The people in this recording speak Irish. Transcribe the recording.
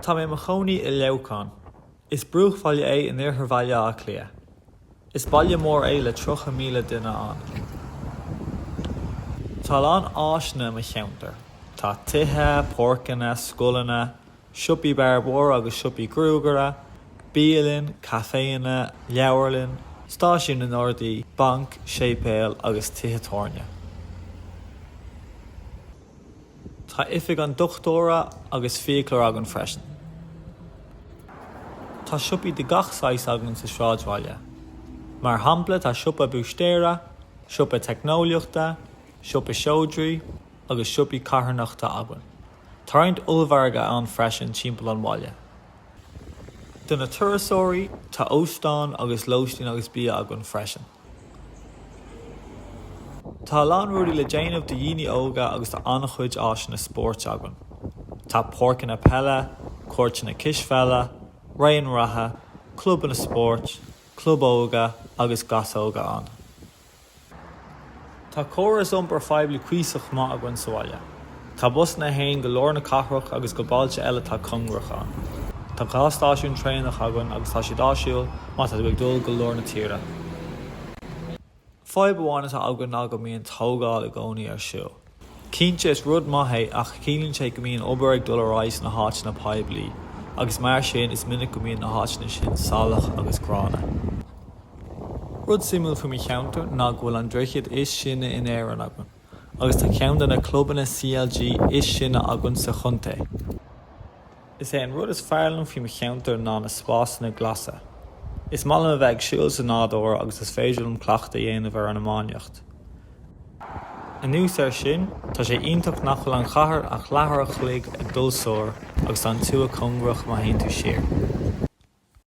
Tá mé i mo chónaí i Leamhcán. Is bruachbhaile é in iarthar Bhaile Átha Cliath. Is baile mór é le 30,000 duine ann. Tá a lán áiseanna i mo cheantar. Tá tithe, páirceanna, scoileanna, siopaí bearbóra agus siopaí gruagaire, bialanna, caiféanna, leabharlann, stáisiún na nGardaí, banc, séipéal agus tithe tábhairne. Tá oifig an dochtúra agus fiaclóra againn freisin. Tá siopaí de gach saghas againn sa sráidbhaile. Mar shampla tá siopa búistéara, siopa teicneolaíochta, siopa seodra agus siopaí carthanachta againn. Tá roinnt ollmhargaidh ann freisin timpeall an bhaile. Do na turasóirí tá óstán agus lóistín agus bia againn freisin. Tá a lán rudaí le déanamh do dhaoine óga agus tá an-chuid áiseanna spóirt againn. Tá páirceanna peile, cúirteanna cispheile, raon reatha, clubanna spóirt, club óige agus gasóga ann. Tá córas iompair phoiblí cuíosach maith againn sa bhaile. Tá busanna a théann go lár na cathrach agus go bailte eile atá cóngarach ann. Tá dhá stáisiún traenach againn agus tá siad áisiúil má tá tú ag dul go lár na tíre. Fadhb amháin atá againn ná go mbíonn tógáil i gcónaí ar siúl. Cinnte, is rud maith é ach ciallaíonn sé go mbíonn obair ag dul ar aghaidh sna háiteanna poiblí agus mar sin is minic go mbíonn na háiteanna sin salach agus gránna. Rud suimiúil faoi mo cheantar ná go bhfuil an droichead is sine in Éirinn againn agus tá ceann de na clubanna CLG is sine againn sa chontae. Is é an rud is fearr liom faoi mo cheantar ná na spásanna glasa. Is maith liom a bheith ag siúl sa nádúr agus is féidir liom cleachtadh a dhéanamh ar an iománaíocht. Anuas air sin, tá sé iontach nach bhfuil an chathair ach leathuair a chloig ag dul soir agus tá an tuath cóngarach má théann tú siar.